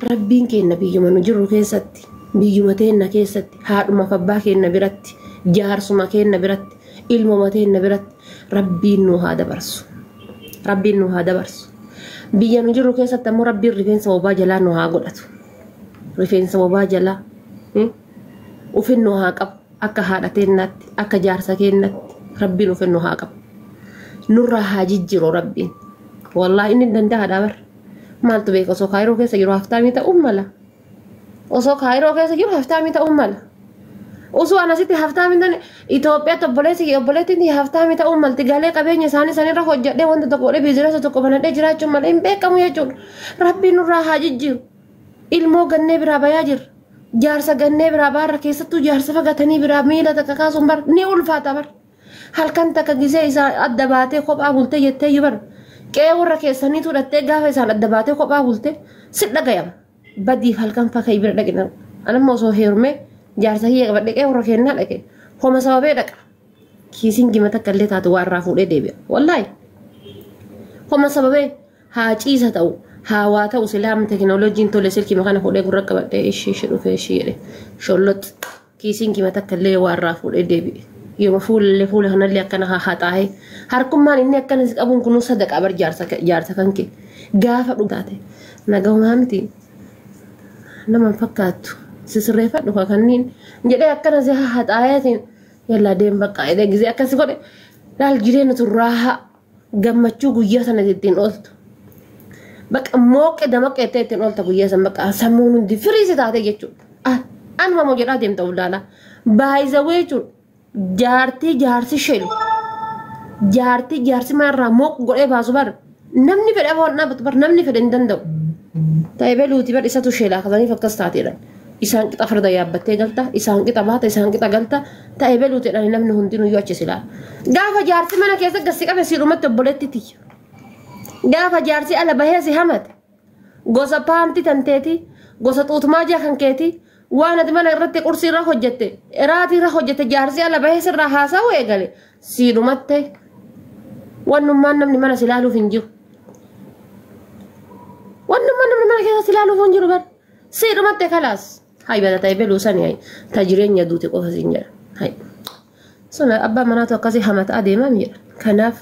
Rabbiin keenna biyyuma nu jirru keessatti, biyyuma teenna keessatti, haadhumaaf abbaa keenna biratti, jaarsuma keenna biratti, ilmuma teenna biratti Rabbiin nu haa dabarsu. Rabbiin nu haa dabarsu. Biyya nu jirru keessatti ammoo Rabbiin rifeensa bobaa jalaa nu haa godhatu. Rifeensa bobaa jalaa ufin nu haa qabu. Akka haadha teennaatti, akka jaarsa keennaatti Rabbiin ufin nu haa qabu. Nurraa haa jijjiru Rabbiin. Wallaahi inni danda'a dhabar. Maaltu beeka osoo kaayiroo keessa jiru haftaamii ta'uun mala. Osoo kaayiroo keessa jiru haftaamii ta'uun mala. Osoo an asitti haftaamii ta'an Itoophiyaatti obboleessi obboleettiin haftaamii ta'uun malti galee qabeenya isaanii sanirra hojjedhee wanta tokko godhee biizinasa tokko banadhee jiraachuun malee hin beekamu jechuudha. Rabbiin nurraa haa jijjiiru. Ilmoo gannee biraa bayaa jirra. Jaarsa gannee biraa baarra keessattuu jaarsa fagatanii biraa miila takka kaasuun bar ni ulfaata bar. Halkan takka gisee isa adda baatee kophaa bulte jetteeyyu bar. Qe'ee warra keessaniitu dhattee gaafa isaan adda baatee kophaa bulte si dhagayama. Badiif halkan fakkayi bira dhaqina. Anamma osoo heerumee jaarsa kiyya qabadhe qe'ee warra keennaa dhaqe. Homa sababee dhaqa. Kiisiin jima takka illee taatu waa irraa fuudhee deebi'a. Wallaahi. Homa sababee haa ciisa ta'u haa waa ta'u silaam tekinooloojiin tole silkii makana fuudhee gurra qabadhe ishii ishii dhufee ishii jedhe shollot. Kiisiin kima takka illee waa irraa fuudhee deebi'e. Yooma fuulallee fuula kanallee akkana hahaxaa'ee harkummaan inni akkana si qabuun kunuu sadaqaa bar jaarsa kan kee gaafa dhufu taate nagahumaa miti nama hin fakkaattu si sirreeffadhu ka kanniin jedhee akkana si hahaxaa'eetiin yallaa deem baqqaa jedhee gisee akkasi godhe laal jireenya turraahaa. gammachuu guyyaa sana ittiin ooltu. Bakka mooqqe damaqe jettee ittiin oolta guyyaa sana bakka sammuun hundi firii si taatee jechuudha. Ah, Anuma moo jedhaa deemta uldaala. Baay'isawee jechuudha. Jaartii jaarsi sheelu. Jaartii jaarsi mana irraa mooq godhee baasu bar. Namni fedha waan dhaabatu bar namni fedha hin danda'u. Ta'e beluuti bar isatu sheelaa kasaniif akkas taateedha. isaan qixa farda yaabbattee galta isaan qixa baata isaan qixa galta ta'e beluutedhaan namni hundinuu yoo achi silaa gaafa jaarsi mana keessa gassi qabe siidhumatti obboleetti tiyya gaafa jaarsi ala bahee si hamate gosa paanti tanteeti gosa xuutumaa jaa kan keeti waan ati mana irratti qursii irra hojjette iraatii irra hojjette jaarsi ala bahee sirraa haasa'uu eegale siidhumatte wannummaan namni mana si ilaaluuf hin jiru wannummaan namni mana keessa si ilaaluuf hin jiru bara Si dhumatte kalaas. Hay bada ta'e beluu sani hay. Ta jireenya duute qofa siin jedha. Hay. Sun abbaa manaatu akkasii hamata adeemaa mi jedha. Kanaaf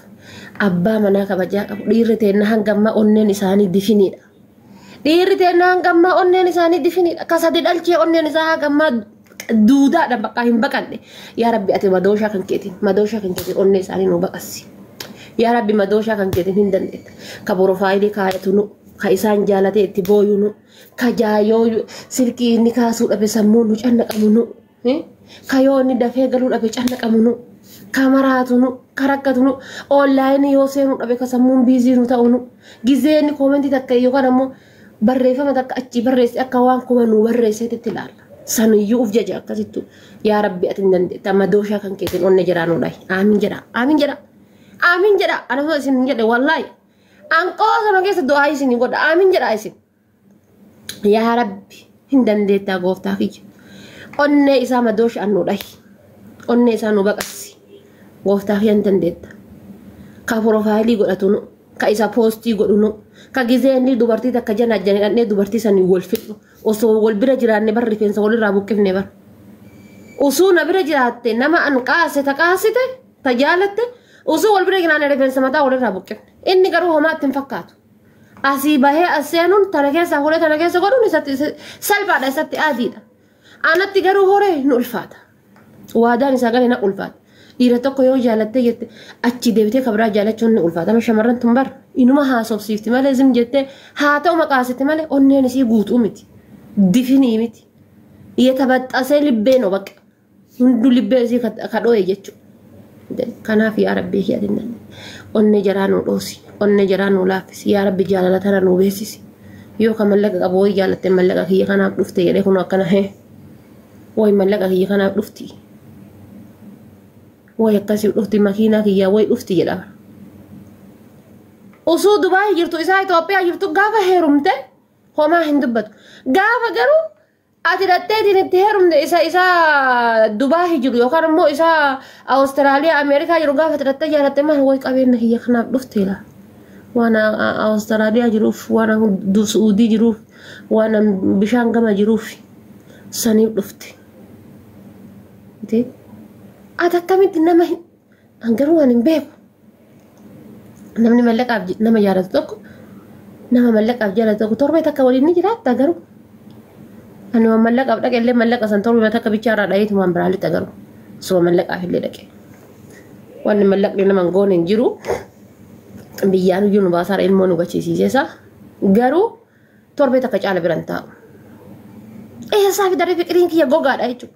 abbaa manaa kabajaa qabu dhiirri teenna hanga ammaa onneen isaanii difiniidha. Dhiirri teenna hanga ammaa onneen isaanii difiniidha. Ka sadi dhalchee onneen isaa hanga ammaa duudaadhaan bakka hin baqanne yaa rabbi ati madooshaa kan keetiin madooshaa kan keetiin onnee isaanii nu baqassi yaa rabbi madooshaa kan keetiin hin dandeetta ka porofaayilii kaayatu nu ka isaan jaalatee itti booyu nu ka jaayoo silkii inni kaasuu dhabe sammuu nu cannaqamu nu ka yoo inni dafee galuu dhabe cannaqamu nu ka maraatu nu ka rakkatu nu oonlaayinii yoo seenuu dhabe ka sammuun biizii nu ta'u nu gizee inni koomentii takka yookaan ammoo barreeffama takka achii barreesse akka waan kuma nuu barreesseetti itti ilaalla. Saniyyuu uf jaja akkasittu yaa rabbi ati hin dandeetta madooshaa kan keessan onne jedhaa nuu dhahi. Aamin jedha aamin jedha aamin jedha ana osoo isin hin jedhe wallaahi anqoo sana keessa du'aa isin godha aamin jedha isin. Yaa rabbi hin dandeettaa gooftaa kiyya onnee isaa madooshaan nu dhahi onnee isaa nu baqassi gooftaa kiyya hin dandeetta ka porofaayilii godhatunu ka isa poostii godhunu ka gizee inni dubartii takka jana ajjane dhannee dubartii sanii wal fixnu osoo wal bira jiraanne bar rifeensa walirraa buqqifne bar osoo na bira jiraatte nama an qaase ta qaasite ta jaalatte osoo wal bira jiraanne rifeensa mataa walirraa buqqifne inni garuu homaatti hin fakkaatu asii bahee as seenuun tana keessaa horee tana keessa godhuun isatti salphaadha isatti aadiidha. Anatti garuu horee nu ulfaata. Waadaan isaa galee na ulfaata. Dhiira tokko yoo jaalattee jette achi deebitee kabraa jaalachuun ni ulfaata. Amma shamarran tun bar inuma haasofsiifti malee zim jettee haa ta'u maqaasiti malee onneen isii guutuu miti. Difinii miti. Yetabaxxasee libbee no bakka. hunduu libbee isii kadhoo'e jechuudha. Kanaaf yaa rabbii kiyya dinnan onnee jaraa nuu dhoosi onnee jaraa nuu laaffisi yaa rabbi jaalala tana nuu beeksisi yoo ka mallaqa qabu wayi jaalatte mallaqa kiyya kanaaf dhufte jedhee kun akkana hee wayi mallaqa kiyya kanaaf dhufti wayi akkasiif dhufti makiinaa kiyyaa wayi dhufti jedhama. Osoo Dubaayii jirtu isaa Itoophiyaa jirtu gaafa heerumte homaa hin dubbatu gaafa garuu Ati dhaqxeetiin itti heerumte isa isa Dubaahi jiru yookaan immoo isa Awustiraaliyaa Ameerikaa jiru gaafa ati dhaqxee jaalatte maal wayi qabeenya kiyya kanaaf dhufteela. Waan Awustiraaliyaa jiruuf, waan Suudii jiruuf, waan bishaan gama jiruuf saniif dhufte. Ati akkamitti nama An garuu waan hin beeku. Namni mallaqaaf j- nama jaalatu tokko nama mallaqaaf jaalatu tokko torbee takka waliin ni jiraatta garuu. Ani waan mallaqaaf dhaqe illee mallaqa san torbee takka bichaa irraa dhayeetu waan biraa lixa garuu. Osoo mallaqaaf illee dhaqe. Wanni mallaqni nama hin goone hin jiru. Biyyaan iyyuu nu baasaa irra ilmoo nu gachiisiiseesa. Garuu torbee takka caala biran taa'u. Eessaa fi daree fiqiriin kiyya gogaadha jechuudha.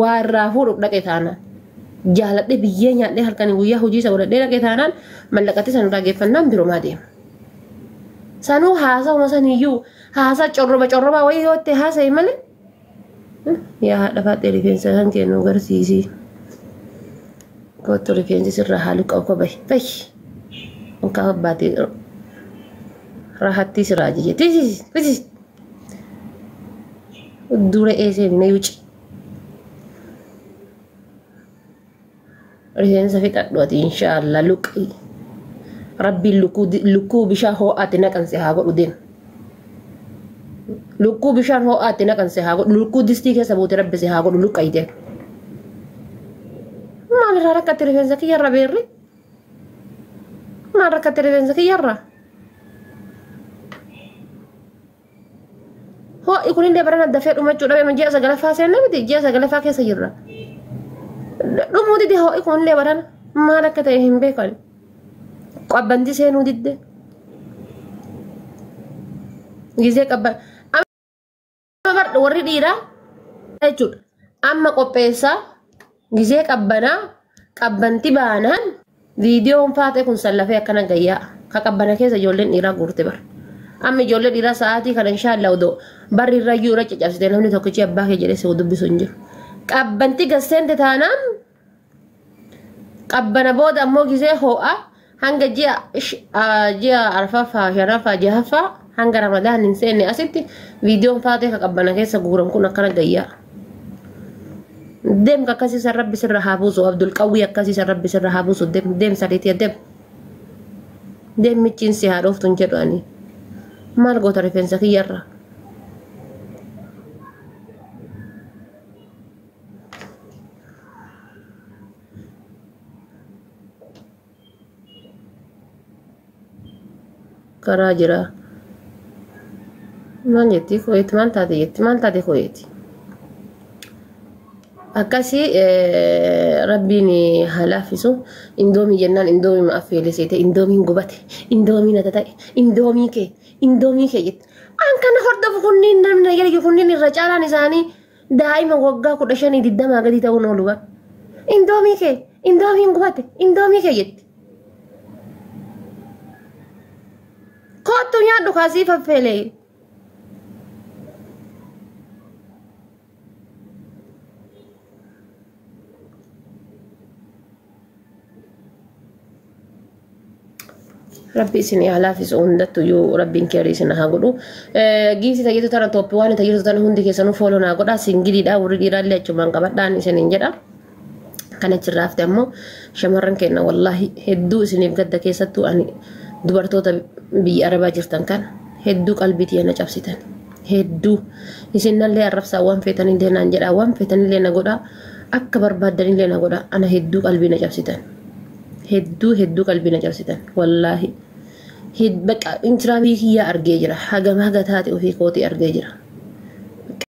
waa irraa fuudhuuf dhaqe taanaan jaaladhee biyyee nyaadhee halkanii guyyaa hojii isa godhadhee dhaqe taanaan mallaqatti san irraa geeffannaan birumaa deema. Sanuu haasawuma saniyyuu haasaa corroba corrobaa wayii yoo ta'e haasa'e malee yaa haadha faaxee rifeensa kan kennu garsiisii. Kottu rifeensi sirraa haaluu qabu koo bahi bahi. Mukaa abbaatee rahattii siraa jijjiirti. Dura eesee bina yuci. Rifeensa fixadhu ati inshaallah luqii. Rabbiin lukkuu bishaan hoo'aatti naqanse haa godhu deema. Lukkuu bishaan hoo'aatti naqanse haa godhu lukkuu distii keessa buute rabbi si haa godhu luqqayi deema. Maalirraa rakkatti rifeensa kiyyarra beerri? Maal rakkatte rifeensa kiyyarra? Ho'i kunillee barana dafee dhumachuu dhabe ji'a sagalaffaa seenne miti ji'a sagalaffaa keessa jirra. Dhumuu dide ho'i kunillee barana maal akka ta'e hin beekan. Qabbanti seenuu didde. Gizee qabban. Barbardha warri dhiiraa jechuudha. Amma qopheessaa gizee qabbanaa qabbanti baanaan viidiyoon faatee kun sallafee akkana gayyaa ka qabbana keessa ijoolleen dhiiraa guurte bara. Amma ijoollee dhiiraa sa'aatii kana inshaallah odoo barri irra iyyuu irra caccabsite namni tokkichi abbaa kee jedhee si dubbisu hin jiru. Qabbanti gasseente taanaan qabbana booda ammoo gizee hoo'a hanga ji'a sh- ah, ji'a arfaffaa shanaffaa jahaffaa hanga ramadaan hin seenne asitti viidiyoon faatee ka qabbana keessa guuran kun akkana gayyaa deemka akkasii san rabbi sirra haa buusu abdul qawwii akkasii san rabbi sirra haa buusu deem deem sariitii deem deem michiin si haa dhooftu hin jedhu ani maal goota rifeensa kiyyarra karaa jira maal jetti kuweeti maal taate jetti maal taate kuweeti akkasi rabbiin haa laaffisu indoomii jennaan indoomii ma affeelisiite indoomiin gubate indoomii nata ta'e indoomii kee indoomii kee jette an kana hordofu kunniin namni yalge kunniin irra caalaan isaanii Daa'ima waggaa kudha shanii digdamaa gadi ta'uun oolu bar. Indoomii kee indoomiin gubate indoomii kee jetti. Koottu nyaadhu kaasii faffeelee. Rabbi isin haa laafisu hundattu iyyuu rabbiin keerii isin haa godhu. Giifti tayyatu tana tooppi waan tayyatu tana hundi keessanuu fooloo naa godha singiliidha warri dhiiraa illee achumaan qabadhaan isiniin jedha. Kan achirraa hafte ammoo shamarran keenya wallaahi hedduu isiniif gadda keessattuu ani dubartoota biyya arabaa jirtan kan hedduu qalbii tiyya na cabsitan. hedduu isin nallee arrabsaa waan feetanillee naan jedhaa waan feetanillee na godhaa akka barbaaddanillee na godhaa ana hedduu qalbii na cabsitan hedduu hedduu qalbii na cabsitan wallaahi baqa intiraavii kiyyaa argee jira hagam haga taate ofii kootii argee jira.